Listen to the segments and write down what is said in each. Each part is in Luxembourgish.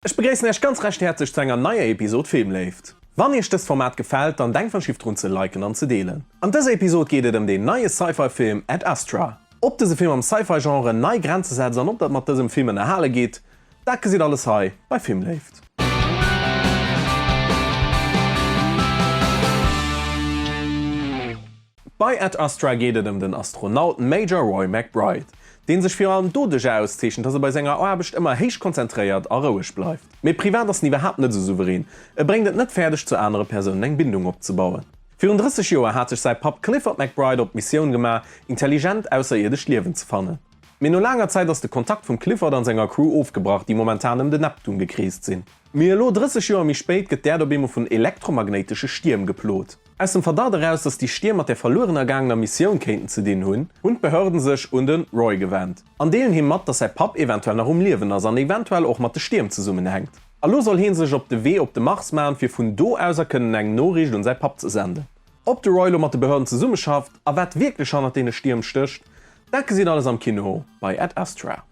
Ech begréissen Äech ganz recht häerzlech zu enger neier Episod Filmléift. Wann Iech dëst Format gefällt, dann denkt wann Schiff drun ze liken an ze deelen. An dëser Episod geet et ëm deen neie Sci-Fi Film Ad Astra. Ob dëse Film am Sci-Fi Genre nei Grenze setzt an ob dat mat dësem Film ënnerhale gitt, dat gesitt alles hei bei Filmléift. Bei Ad Astra geet et ëm den Astronaut Major Roy McBride, dee sech virun allem doduerch auszeechent, dass e bei senger Aarbecht ëmmer héich konzentréiert a roueg bleift. Mee privat ass en iwwerhaapt net esou souverän, e bréngt et net fäerdeg zu anere Persounen eng Bindung opzebauen. Virun 30 Joer hat sech säi Papp Clifford McBride op d'Missioun gemaach, intelligent ausserierdesch Liewen ze fannen. Mee no laanger Zäit ass de Kontakt vum Clifford an senger Crew ofgebrach, déi momentan ëm de Neptun gekreest sinn. Mee elo, 30 Joer méi spéit, gëtt d'Äerd op eemol vun elektromagnéitesche Stierm geplot. Aus dem Verdacht eraus, dass déi Stier mat der verlueren ergaangener Missioun kéinten ze dinn hunn, hunn d'Behörden sech un de Roy gewend an deelen him mat, dass säi Papp eventuell nach um Liewen ass an eventuell och mat de Stierm zesummenhänkt. Elo soll hie sech op de Wee op de Mars maachen, fir vun do aus a kënnen eng Noriicht un säi Papp ze senden. Ob de Roy elo mat de Behörden zesummeschafft a wat wierklech hannert deene Stierm stécht, dat gesitt Dir alles am Kino bei Ad Astra.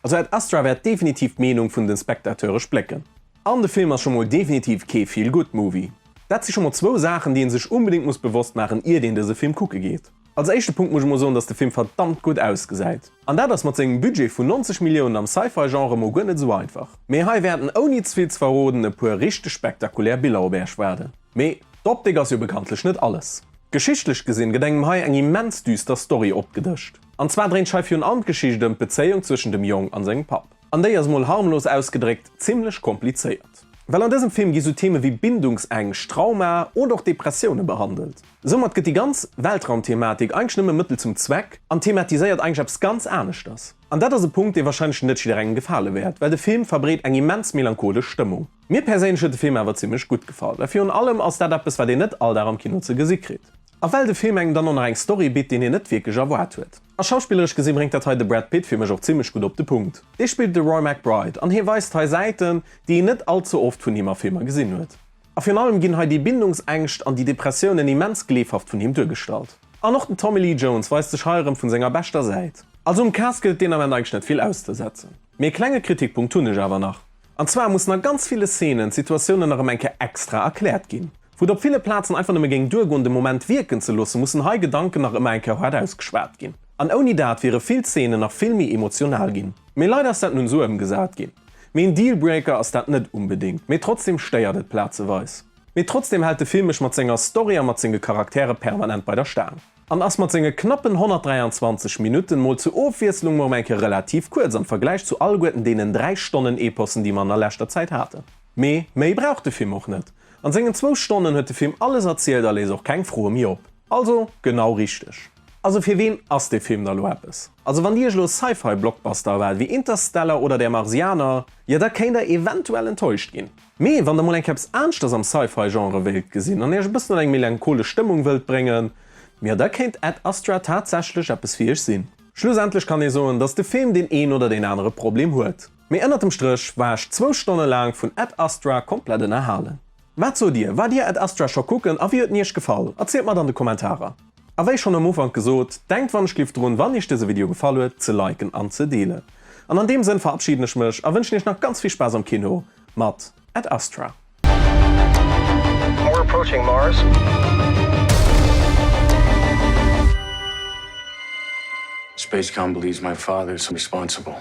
Also Ad Astra wäert definitiv d'Meenung vun den Spectateure splécken. An de Film ass scho mol definitiv kee Feel Good Movie. Dat si scho mol zwou Saachen déi een sech unbedingt muss bewosst maachen iert een dëse Film kucke geet. Als éischte Punkt muss ech mol soen dass de Film verdammt gutt ausgesäit. An dat ass mat sengem Budget vun 90 Milliounen am Sci-Fi Genre mol guer net esou einfach. Mee hei wäerten ouni zevill ze verroden e puer richteg spektakulär Biller op äerch waarden. Mee d'Optik ass jo bekanntlech net alles. Geschichtlech gesinn gëtt engem hei eng immens düster Story opgedëscht. An zwar dréint schei virun allem d'Geschicht ëm d'Bezéiung zwëschen dem Jong an sengem Papp. An déi ass, mol harmlos ausgedréckt, zimlech komplizéiert. Well an dësem Film gi sou Theme wéi Bindungsängscht, Traumae oder och Depressioune behandelt. Soumat gëtt déi ganz Weltraumthematik eigentlech nëmme Mëttel zum Zweck an thematiséiert eigentlech eppes ganz aneschters. An dat ass e Punkt, dee warscheinlech net jidderengem gefale wäert, well de Film verbreet eng immens melancholesch Stëmmung. Mir perséinlech huet de Film awer zimlech gutt gefall, well virun allem ass dat eppes, wat een net all Dag am Kino ze gesi kritt. A well de Film engem dann och nach eng Story bitt, déi een net wierklech erwaart huet. A schauspilleresch gesi bréngt dat hei de Brad Pitt fir mech och zimmlech gutt op de Punkt. Dee spillt de Roy McBride an hie weist hei Säiten, déi een net all ze oft vun him a Filmer gesinn huet. A virun allem ginn hei déi Bindungsängscht an déi Depressiounen immens gleefhaft vun him duergestallt. An och den Tommy Lee Jones weist sech hei erëm vun senger beschter Säit. Also um Cast gëllt deen Ament eigentlech net vill auszesetzen. Mee e klenge Kritikpunkt hunn ech awer nach. An zwar mussen a ganz ville Szenen d'Situatiounen nach erëm eng Kéier extra erkläert ginn. Wou et op ville Plazen einfach nëmme géing duergoen de Moment wierken ze loossen, mussen hei Gedanken nach ëmmer eng Kéier haart ausgeschwat ginn. An ouni dat wiere vill Zeenen nach vill méi emotional ginn. Mee leider ass dat nun esou ëmgesat ginn. Mee een Dealbreaker ass dat net unbedéngt, mee trotzdem stéiert et plazeweis. Mee trotzdem hält de Film mech mat senger Story a mat senge Charaktere permanent bei der Staang. An ass mat senge knappen 123 Minutten mol zur Ofwiesslung mol ëm eng Kéier relativ kuerz am Vergläich zu alleguerten deenen 3 Stonnen Epossen déi mer an der leschter Zäit haten. Mee méi brauch de Film och net. An sengen zwou Stonnen huet de Film alles erzielt a léisst och keng Froe méi op. Also genau richteg. Also fir ween ass dee Film da lo eppes? Also wann dir iech lo Sci-Fi Blockbuster erwaart wéi Interstellar oder Der Marsianer, jo da kéint der eventuell enttäuscht ginn. Mee wann der mol enk eppes aanschters am Sci-Fi Genre wéilt gesinn an iech e bëssen an eng melancholesch Stëmmung wëllt bréngen, jo da kéint Ad Astra tatsächlech eppes fir iech sinn. Schlussendlech kann ee soen dass de Film deen een oder deen anere Problem huet. Mee ënnert dem Stréch war ech zwou Stonne laang vun Ad Astra komplett ënnerhalen. Wat sot dir? Waart dir Ad Astra scho kucken a wéi huet en iech gefall? Erzielt mer et an de Kommentarer. A wéi schonn am Ufank gesot, denkt wann ech lift drun wann iech dëse Video gefall huet ze liken an ze deelen. An an deem Sënn verabschieden ech mech a wënschen iech nach ganz vill Spaass am Kino mat Ad Astra. We're approaching Mars. Space Gumble is my father's responsible.